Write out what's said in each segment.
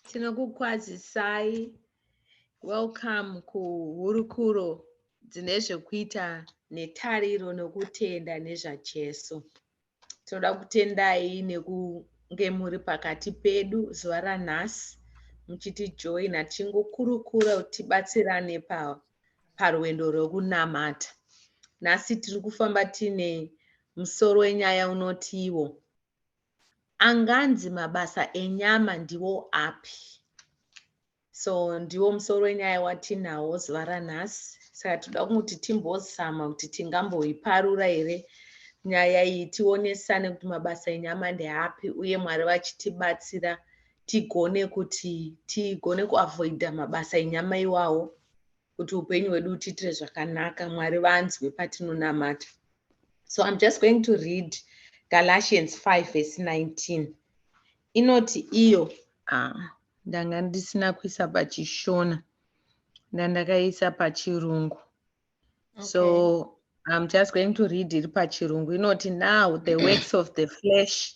tinokukwazisai welcome kuhurukuro dzine zvekuita netariro nokutenda nezvajesu toda kutendai nekunge muri pakati pedu zuva ranhasi muchitijoina tichingokurukura kuti tibatsirane parwendo rwekunamata nhasi tiri kufamba tiine musoro wenyaya unotiwo anganzi mabasa enyama ndiwo api so ndiwo musoro wenyaya watinawo zuva ranhasi saka tinoda kuti timbozama kuti tingamboiparura here nyaya iyi tionesane kuti mabasa enyama ndeapi uye mwari vachitibatsira tigone kuti tigone kuavoida mabasa enyama iwawo kuti upenyu hwedu utiitire zvakanaka mwari vanzwe patinonamata so i'm just going to read galatians 5 verse 19 inoti iyo ah, ndanga ndisina kuisa pachishona ndandakaisa pachirungu okay. so i'm just going to read iri pachirungu inoti now the works of the flesh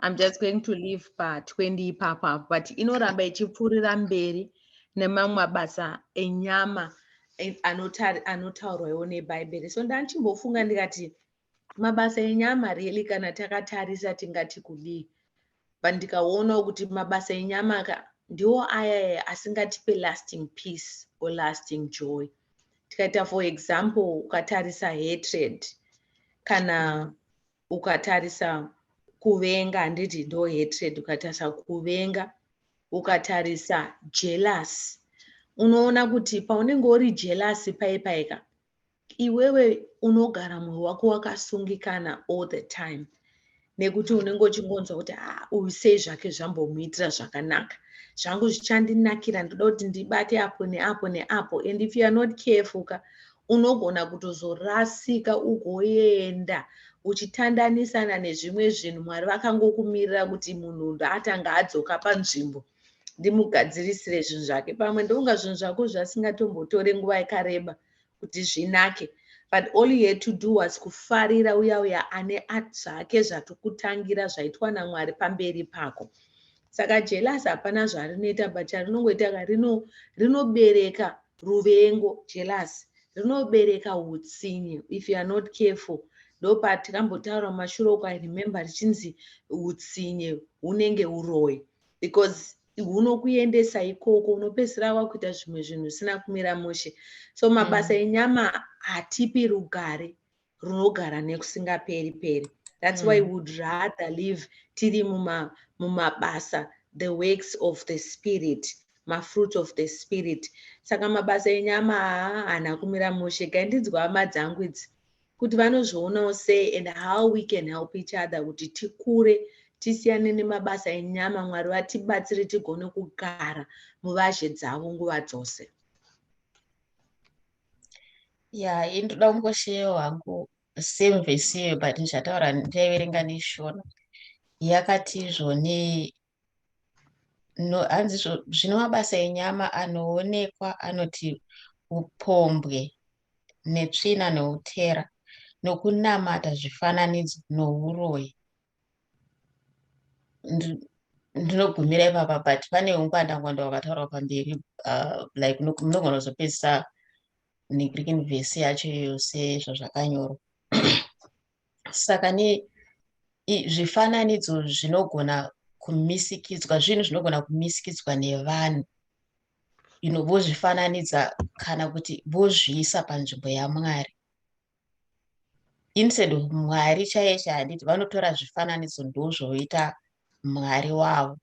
I'm just going to leave pa 20 ipapa but inoramba ichipfuurira mberi nemamwe mabasa enyama eh, anotaurwawo nebhaibheri so ndanchimbofunga ndikati mabasa enyama really kana takatarisa tingati kudii but ndikaonawo kuti mabasa enyama ka ndiwo aya asingatipe lasting peace or lasting joy tikaita for example ukatarisa hatred kana mm. ukatarisa kuvenga handiti ndo hatred ukatarisa kuvenga ukatarisa jealous unoona kuti paunenge uri jealous paipaika iwewe unogara mwoyo wako wakasungikana all the time nekuti unenge uchingonzwa kuti ah, uyu sei zvake zvambomuitira zvakanaka zvangu zvichandinakira ndoda kuti ndibate apo neapo neapo and if youare not careful ka Unogona kutozorasika ugoenda uchitandanisana nezvimwe zvinhu mwari vakangokumirira kuti munhu ndaatanga adzoka panzvimbo ndimugadzirisire zvinhu zvake pamwe ndonga zvinhu zvako zvasingatombotori nguva yakareba kuti zvinake but all you had to do was kufarira uya uya ane zvake zvatokutangira zvaitwa namwari pamberi pako saka jealous hapana zvarinoita but charinongoita ka rino rinobereka ruvengo jealous rinobereka utsinye if you are not careful ndopatikambotaura mumashure uko i remember richinzi utsinye hunenge uroyi because hunokuendesa ikoko unopedzisira wakuita zvimwe zvinhu zvisina kumira mushe so mabasa mm. enyama hatipi rugare runogara nekusingaperi peri that's mm. why would rather live tiri muma mumabasa the works of the spirit mafruit of the spirit saka mabasa enyama haana kumira mushe gaindidzwa hama dzangu idzi kuti vanozvionawo sei and how we can help each other kuti tikure tisiyane nemabasa enyama mwari vatibatsire tigone kugara muvazhe dzavo nguva dzose Yeah, ini ndoda kungosheyawo hangu same verse iyoyo but ndichataura ndaiverenga neshona yakati izvo ne no hanzi zvo- zvino mabasa enyama anoonekwa anoti upombwe netsvina noutera nokunamata zvifananidzo nouroyi Ndi- ndinogumira ipapa but pane ungwandangwanda wakataurwa pamberi uh, like nok- munogona kuzopedzisa negreek verse yacho iyoyo sezvazvakanyorwa saka ne zvifananidzo zvinogona kumisikidzwa zvinhu zvinogona kumisikidzwa nevanhu you know vozvifananidza kana kuti vozviisa panzvimbo yamwari instead of mwari chaiye chahanditi vanotora zvifananidzo ndozvoita mwari wavo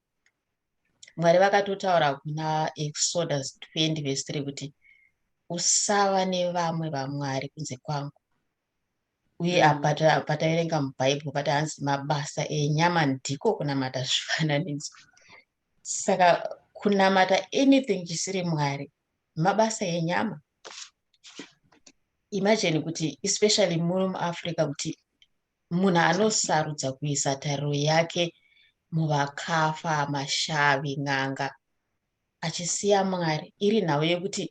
mwari vakatotaura kuna exodus 20 vhesi 3 kuti usava nevamwe vamwari kunze kwangu uye mm. apa pataverenga mubhaibheri pati hanzi mabasa enyama ndiko kunamata zvifananidzo saka kunamata anything chisiri mwari mabasa enyama imagine kuti especially muri muafrica kuti munhu anosarudza kuisa tariro yake muvakafa mashavi n'anga achisiya mwari iri nhau yekuti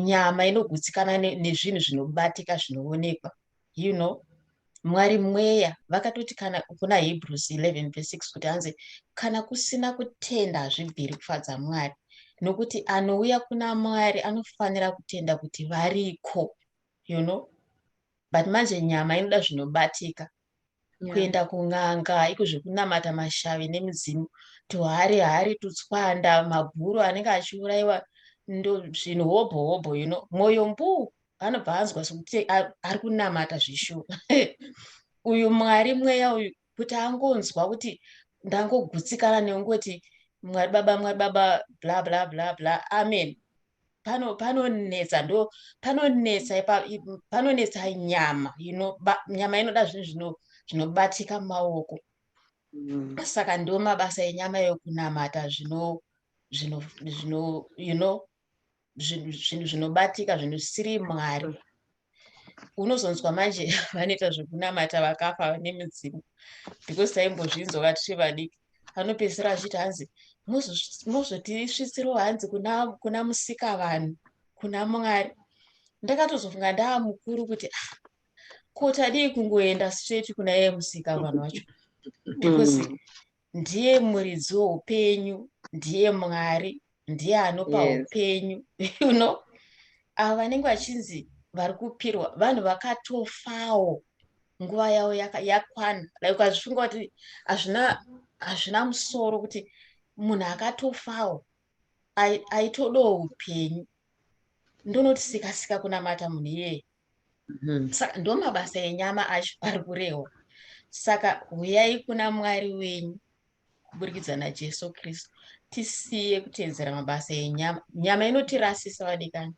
nyama inogutsikana nezvinhu zvinobatika zvinoonekwa you know mwari mweya vakatoti kana kuna hebrews 11 ve 6 kuti hanzi kana kusina kutenda hazvibviri kufadza mwari nokuti anouya kuna mwari anofanira kutenda kuti variko you know but manje nyama inoda zvinobatika yeah. kuenda kun'anga iko zvekunamata mashavi nemudzimu tuhari hari tutswanda mabhuru anenge achiurayiwa zvinhu hobho hobho you know mwoyo mbuu anobva anzwa sokuti ari kunamata zvishuma uyu mwari mweya uyu kuti angonzwa kuti ndangogutsikana neungoti mwari baba mwari baba bla bla bla bla amen panonetsa ndo panonetsa panonetsa nyama nyama inoda zvinhu zvinobatika mumaoko mm. saka ndo mabasa enyama yokunamata zvino zvino zvino you know zvinhu zvinhu zvinobatika zvinhu zvisiri mwari unozonzwa manje vanoita zvekunamata vakafa vane midzimu because taimbozvinzwa vatiri vadiki anopedzisira achiti hanzi mozotisvitsirawo hanzi kuna kuna musika vanhu kuna mwari ndakatozofunga ndaa mukuru kuti ah, ko tadii kungoenda straight kuna iye musika vanhu vacho because mm. ndiye muridzi weupenyu ndiye mwari ndiye anopa Yes. upenyu you know avo vanenge vachinzi vari kupirwa vanhu vakatofawo nguva yavo yaka- yakwana like ukazvifunga kuti hazvina hazvina musoro kuti munhu akatofawo ai- aitodawo upenyu ndonoti sikasika kunamata munhu iyeye saka ndomabasa enyama acho ari kurehwa saka huyai kuna mwari wenyu kuburikidza najesu kristu tisiye kutedzera mabasa enyama nyama inotirasisa vadikani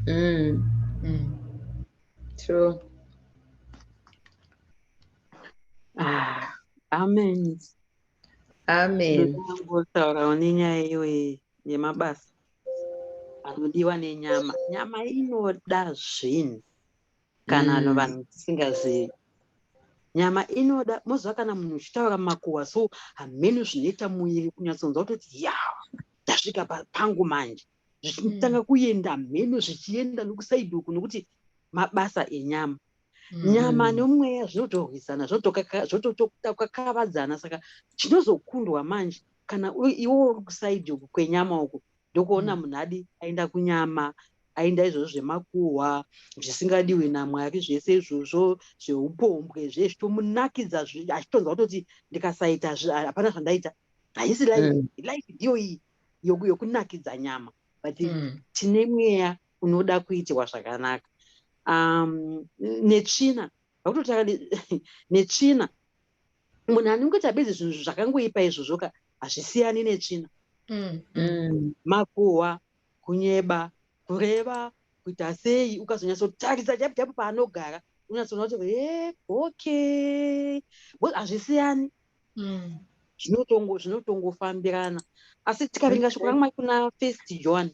mm. mm. true ah, amen amen ndinotaurawo nenyaya iyoyi yemabasa anodiwa nenyama nyama inoda zvinhu kana ano mm. vanhu tisingazivi nyama inoda mozva kana munhu uchitaura makuwa so hameno zvinoita muviri kunyatsonzwa kutoti ya ndasvika pangu manje zvichitanga mm. kuenda mheno zvichienda nokusaidi uku nokuti mabasa enyama mm. nyama nomweya zvinotorwisana zvototakakavadzana saka chinozokundwa manje kana iwo uri kusaidi uku kwenyama uku ndokuona mm. munhu adi aenda kunyama aenda izvozvo zvemakuhwa zvisingadiwi namwari zvese izvozvo zveupombwe zve zvitomunakidza achitonzwa kutoti ndikasaita hapana zvandaita haisi life mm. life ndiyo iyi yokunakidza nyama but mm. tine mweya unoda kuitirwa zvakanaka um, netsvina vakutotanga netsvina munhu anongoita bedzi zvinhu zvakangoipa izvozvo ka hazvisiyani netsvina mm. mm. makuhwa kunyeba kureva kuita sei ukazonyatsotarisa japu japu paanogara unyatsoona kuti e okay bcause hazvisiyani mm. zvinotongofambirana asi tikaringa shoko ramwai kuna first john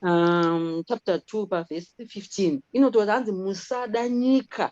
um, chapter 2 pavhesi 15 inotoa hanzi musada nyika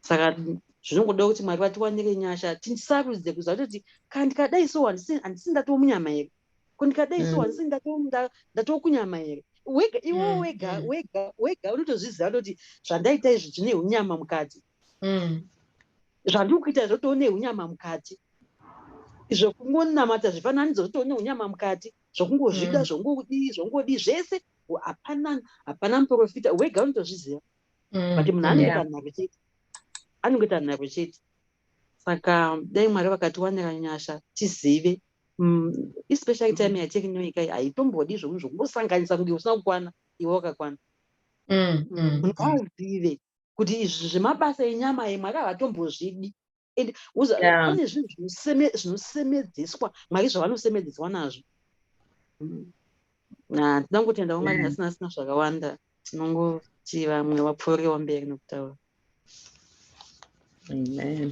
saka zvinongoda kuti mwari vatiwanire nyasha tisarudze kuziva kutoti ka ndikadai so handisi ndatoo munyama here ko ndikadai so mm. handisi ndatoo kunyama here wega iwo mm, wega mm. wega wega unotozviziva kutoti zvandaita izvi zvine unyama mukati zvandiri kuita izvo too neunyama mukati zvokungonamata zvifananidzo zvotoo neunyama mukati zvokungozvida zvongodii zvongodii zvese hapana hapana muprofita wega unotozviziva mm, but munhu anoita nharo chete anongoita nharo chete saka dai mwari vakatiwanira nyasha tizive mm, especially time mm. yatekinyoika haitombodi zvoku zvokungosanganisa kunge usina kukwana iwe wakakwana munhu azive kuti izvi zvemabasa enyama imwe akavatombozvidi and pane zvinhu zvinosemedzeswa mwari zvavanosemedzeswa nazvo mm. ah, tinoda kungotendawo mwari asina asina zvakawanda tinongoti vamwe vapfuuriwo mberi nokutaura amen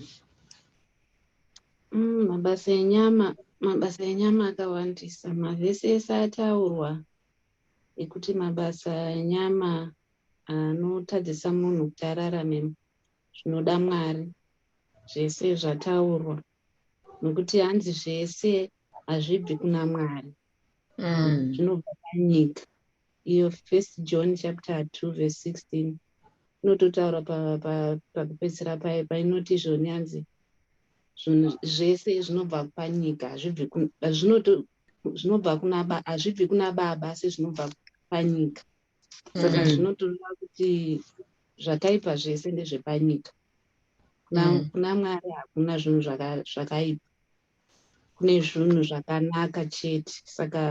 mm, mabasa enyama mabasa enyama akawandisa mavhesi ese ataurwa ekuti mabasa enyama anotadzisa munhu kuti ararame zvinoda Mwari zvese zvataurwa nokuti hanzi zvese hazvibvi kuna Mwari mm. zvinobva panyika iyo first John chapter 2 verse 16 inototaura pakupedzisira pa, pa, paye painoti izvoni hanzi zvinhu zvese zvinobva panyika hazvibvi zvinobva kuna hazvibvi kuna baba asi zvinobva panyika saka mm. zvinotoda kuti zvakaipa zvese ndezvepanyika mm. kuna mwari hakuna zvinhu zvakaipa kune zvinhu zvakanaka chete saka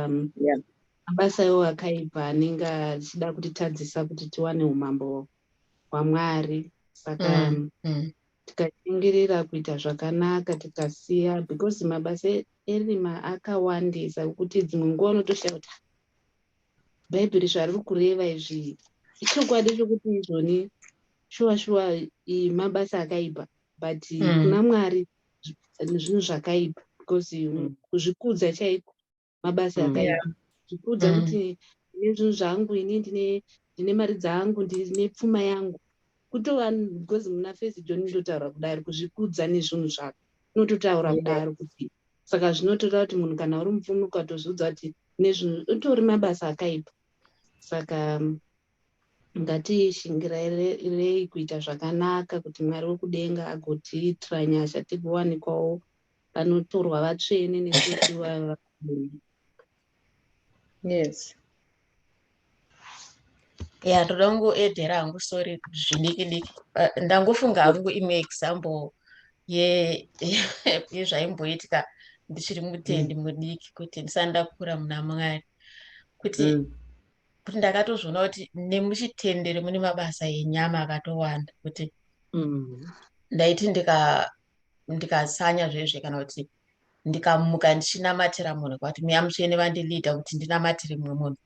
mabasa iwo akaipa anenge achida kutitadzisa kuti tiwane umambo hwamwari saka mm, mm. tikashingirira kuita zvakanaka tikasiya because mabasa erima akawandisa kuti dzimwe nguva unotoshaya kuti bhaibheri zvariri kureva izvi ichokwadi chokuti izvoni shuwa shuwa mabasa akaipa but mm. kuna mwari zvinhu zvakaipa because mm. kuzvikudza chaiko mabasa mm. akaipa zvikudza mm. kuti ndine zvinhu zvangu ini ndine ndine mari dzangu ndine pfuma yangu kutova because muna fesi joni ndotaura kudari kuzvikudza nezvinhu zvako unototaura kudaro kuti saka zvinotoda kuti munhu kana uri mupfumi ukatozviudza kuti nezvinhu utori mabasa akaipa saka um, ngatiishingirirei kuita zvakanaka kuti mwari wekudenga agotiitira nyasha tigowanikwawo vanotorwa vatsvene nekuti vaa yes ya ndoda kungoedhera hangu sorry zvidiki diki uh, ndangofunga hangu imwe example yezvaimboitika ye, ndichiri mutendi mm. mudiki kuti ndisati ndakura muna mwari kuti mm. kuti ndakatozviona kuti nemuchitendere mune mabasa enyama akatowanda kuti mm. ndaiti ndikasanya zvezve kana kuti ndikamuka ndichinamatira munhu kwakuti mweya mutsvene vandiliida kuti ndinamatire mumwe munhu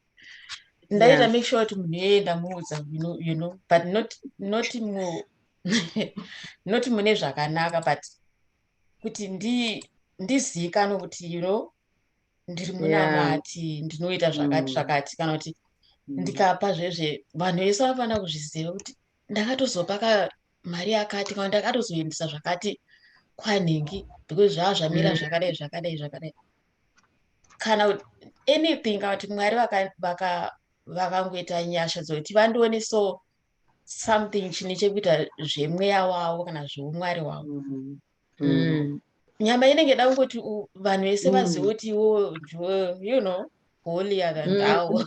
ndaita make sure kuti munhu iyeye ndamuudza you know but not not mu not mune zvakanaka but kuti ndi ndizivikanwe kuti you know ndiri muna vati ndinoita zvakati mm. zvakati kana kuti mm. ndikapa zvezve vanhu vese vanofanira kuzviziva kuti ndakatozopa ka mari yakati kana ndakatozoendesa zvakati kwanhingi because zvava zvamira mm. zvakadai zvakadai zvakadai kana anything kana kuti mwari vakangoita nyasha dzokuti vandione so something chine chekuita zvemweya wavo kana zveumwari wavo mm-hmm. mm. nyama inenge yada kungoti vanhu vese mm. vazive kuti iwo you know holy akandawo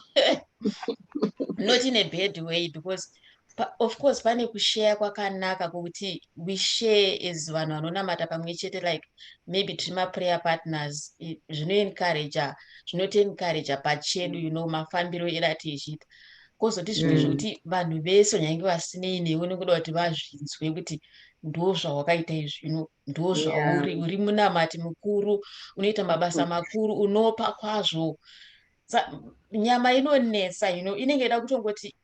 not in a bad way because of course pane kusheya kwakanaka kwokuti we share as vanhu vanonamata pamwe chete like maybe tiri maprayer partners zvinoencourager zvinotiencourager pachedu you know mafambiro edu atichiita kozoti zvimwe mm. zvekuti vanhu vese nyange vasinei newe nokuda kuti vazvinzwe kuti ndozvawakaita izvino ndozvauri yeah. uri munamati mukuru unoita mabasa mm. makuru unopa kwazvo Sa, nyama inonetsa ino know, inenge ida kutongoti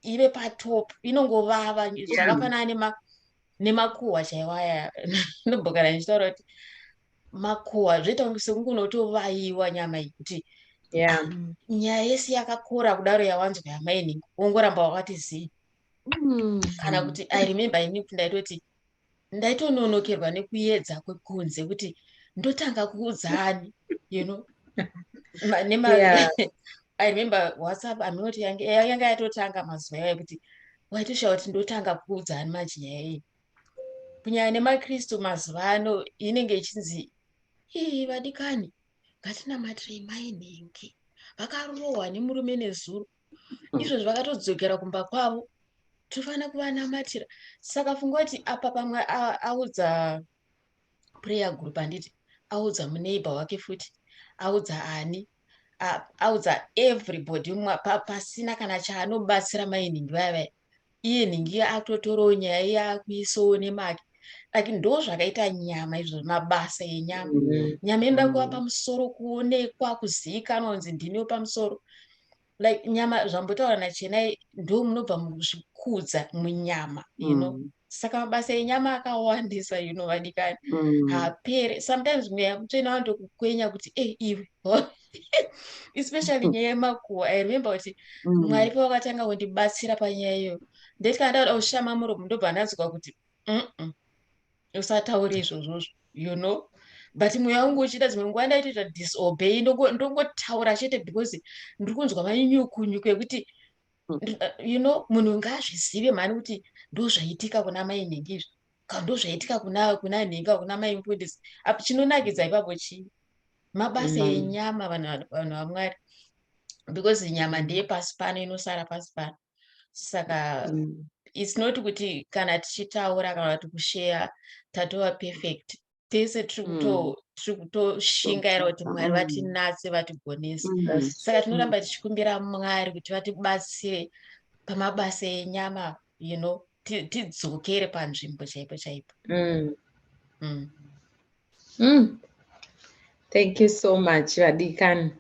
ive patop inongovava zvakafanana nema nemakuhwa chaiwo aya nobhokana ndichitaura kuti makuhwa zvoita kunge sekungunotovaiwa nyama iyi kuti yeah. um, nyaya yese yakakora kudaro yawanzwa yamaini wongoramba wakati zii mm. kana kuti i remember ini kuti ndaitoti ndaitononokerwa nekuedza kwekunze kuti ndotanga kuudzani you know nema yeah. i remember whatsapp anoti yanga yatotanga mazuva yayo kuti waitoshawa kuti ndotanga kuudzani maji nyaya iyi kunyaya nemakristu mazuva ano inenge ichinzi ii vadikani ngatinamatire mainhingi vakarohwa nemurume nezuro izvozvi vakatodzokera kumba kwavo tofanira kuvanamatira saka funga kuti apa pamwe audza prayer group handiti audza muneighbor wake futi audza ani audza everybody pasina kana chaanobatsira mainingi vaya vaya iye nhingi akutotorawo nyaya iye akuisawo nemake like ndo zvakaita nyama izvo mabasa enyama mm. nyama inoda kuva mm. pamusoro kuonekwa kuzivikanwa kunzi ndimiwo pamusoro like nyama zvambotaura nachenai ndo munobva muzvikudza munyama you know mm. saka mabasa enyama akawandisa you know vadikani mm. hapere sometimes mweya mutsvene wanotokukwenya kuti e iwe especially nyaya yemakuwa i remember kuti mm. mwari pavakatanga kundibatsira panyaya iyoyo ndeti kana ndauda kushama muromo ndobva ndanzwa kuti usataure izvozvozvo you know but mweya wangu uchida dzimwe nguva ndaitoita disobey ndongotaura chete because ndiri kunzwa manyukunyuku ekuti mm. uh, you know munhu ngaazvizive mhani kuti ndozvaitika kuna mai nhingi izvi ndozvaitika kuna kuna nhinga kuna mai mufundisi apo chinonakidza ipapo chii mabasa mm. enyama vanhu vanhu vamwari because nyama ndeye pasi pano inosara pasi pano saka mm. its not kuti kana tichitaura kana kuti kusheya tatova perfect tese tiri mm. kuto tiri kutoshingaira kuti mwari mm. vatinatse vatigonese mm. saka tinoramba tichikumbira mwari kuti vatibatsire pamabasa enyama you know tidzokere panzvimbo chaipo chaipo Thank you so much vadikani.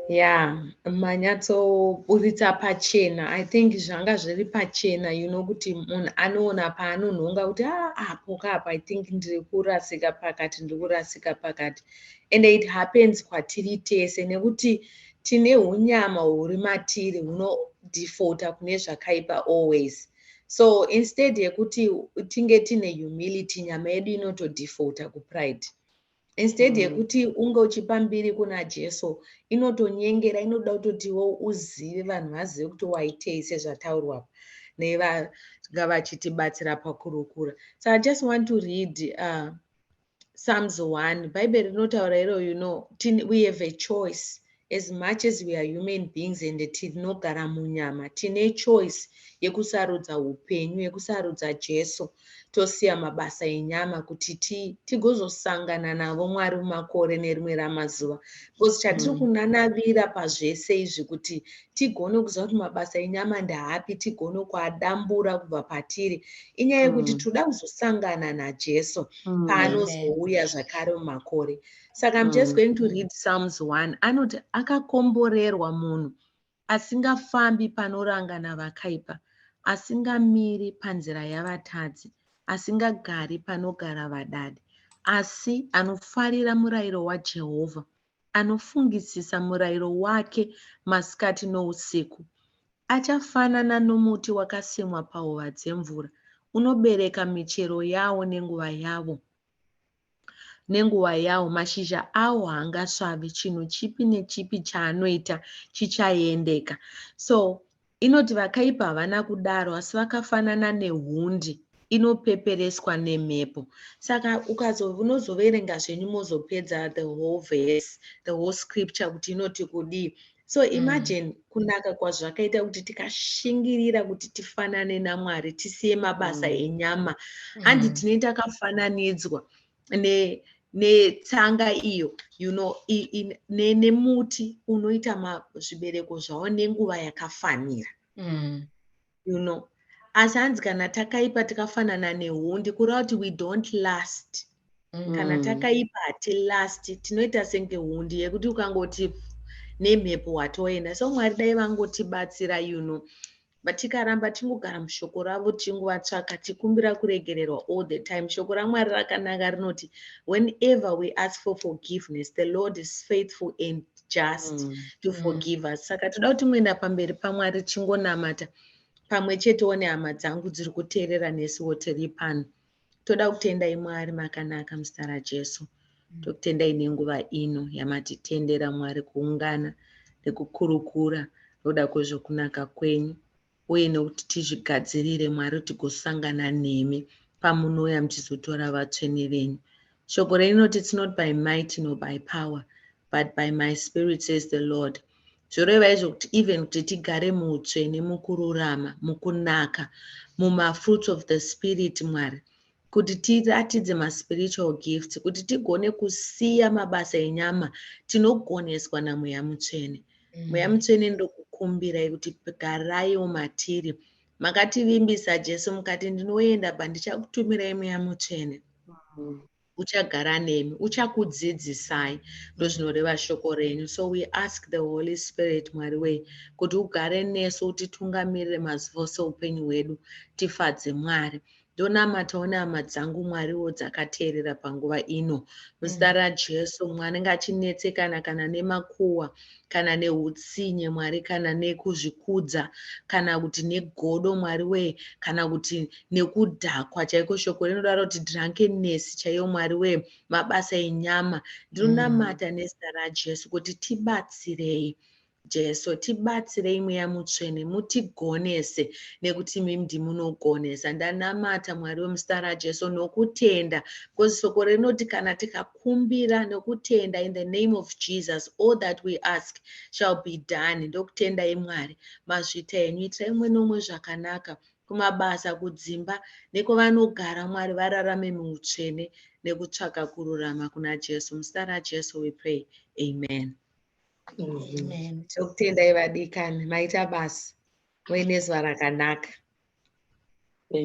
Yeah, manyatsoburitsa pachena. I think zvanga zviri pachena you know kuti munhu anoona paanonhonga kuti ah, apo kapo I think ndiri kurasika pakati ndiri kurasika pakati and it happens kwatiri tese nekuti tine unyama huri matiri hunodefauta kune zvakaipa always so instead yekuti tinge tine humility nyama yedu inotodefauta kupride instead mm. yekuti mm. unge uchipa mbiri kuna jesu inotonyengera inoda kutotiwo uzive vanhu vazive kuti waitei sezvataurwa nevanga vachitibatsira pakurukura so i just want to read uh, psalms one bhaibheri rinotaura iro you know we have a choice as much as we are human beings and tinogara munyama tine choice yekusarudza upenyu yekusarudza jesu tosiya mabasa enyama kuti tigozosangana navo mwari mumakore nerimwe ramazuva because chatiri mm. kunanavira pazvese izvi kuti tigone kuziva kuti mabasa enyama ndaapi tigone kuadambura kubva patiri inyaya yekuti mm. tinoda kuzosangana najesu mm, paanozouya zvakare mumakore saka im just mm. going to read psalms 1 anoti akakomborerwa munhu asingafambi panorangana vakaipa asingamiri panzira yavatadzi asingagari panogara vadadi asi anofarira murayiro wajehovha anofungisisa murayiro wake masikati nousiku achafanana nomuti wakasimwa pahova dzemvura unobereka michero yawo nenguva yavo Nenguva yawo, mashizha awo haangasvavi, chinhu chipi nechipi chaanoita chichaendeka. So inoti vakaipa havana kudaro, asi vakafanana nehundi inopepereswa nemhepo saka ukazonozoverenga zvenyu mozopedza the whole verse the whole scripture kuti inoti kudii so mm. imagine mm. kunaka kwazvakaita kuti tikashingirira kuti tifanane namwari tisiye mabasa mm. enyama mm. handi mm. tinei takafananidzwa ne netsanga iyo you know, nemuti ne unoita zvibereko zvavo nenguva yakafanira mm. you know asi hanzi kana takaipa tikafanana nehundi kureva kuti we don't last mm. kana takaipa hati last tinoita senge hundi yekuti ukangoti nemhepo watoenda so mwari dai vangotibatsira you know but tikaramba tingogara mushoko ravo tichingovatsvaka tikumbira kuregererwa all the time shoko ramwari rakanaka rinoti whenever we ask for forgiveness the lord is faithful and just mm. to mm. forgive us saka toda kuti muenda pamberi pamwari chingonamata pamwe chetewo nehama dzangu dziri kuteerera nesiwo tiri pano toda kutendai mwari makanaka muzita rajesu mm. tokutendai nenguva ino yamatitendera mwari kuungana nekukurukura nokuda kwezvokunaka kwenyu uye nekuti tizvigadzirire Mwari kuti gosangana nemi pamunouya muchizotora vatsvene venyu. Shoko reinoti it's not by might nor by power but by my spirit says the Lord. Zvoreva izvo kuti even kuti tigare muutsvene mukururama, mukunaka, mumafruits of the spirit Mwari kuti tiratidze maspiritual gifts, kuti tigone kusiya mabasa enyama, tinogoneswa naMweya Mutsvene. Mm. Mweya Mutsvene ndokukumbirai kuti garaiwo matiri. Makativimbisa Jesu mukati ndinoenda pa ndichakutumirai Mweya Mutsvene. Mm. Uchagara nemi, uchakudzidzisai ndozvinoreva shoko renyu. So we ask the Holy Spirit Mwari wei kuti ugare nesu utitungamirire mazuva ose upenyu hwedu tifadze Mwari. Ndonamatawo nehama dzangu Mwariwo dzakateerera panguva ino. Muzita mm. raJesu, mwana anenge achinetsekana kana nemakuwa, kana neutsinye Mwari, kana nekuzvikudza, kana kuti negodo Mwari wee, kana kuti nekudhakwa chaiko. Shoko rinodaro kuti drunkenness chaiyo Mwari wee, mabasa enyama. Ndinonamata mm. nezita raJesu kuti tibatsirei. Jesu tibatsirei mweya mutsvene mutigonese nekuti imimi ndimunogonesa ndanamata mwari wemuzita rajesu nokutenda because soko rinoti kana tikakumbira nokutenda in the name of jesus all that we ask shall be done ndokutendai mwari mazvita enyu itirai umwe neumwe zvakanaka kumabasa kudzimba nekovanogara mwari vararame muutsvene nekutsvaka kururama kuna jesu muzita rajesu we pray amen Amen. Tokutendai vadikani maita basa muine zuva rakanaka.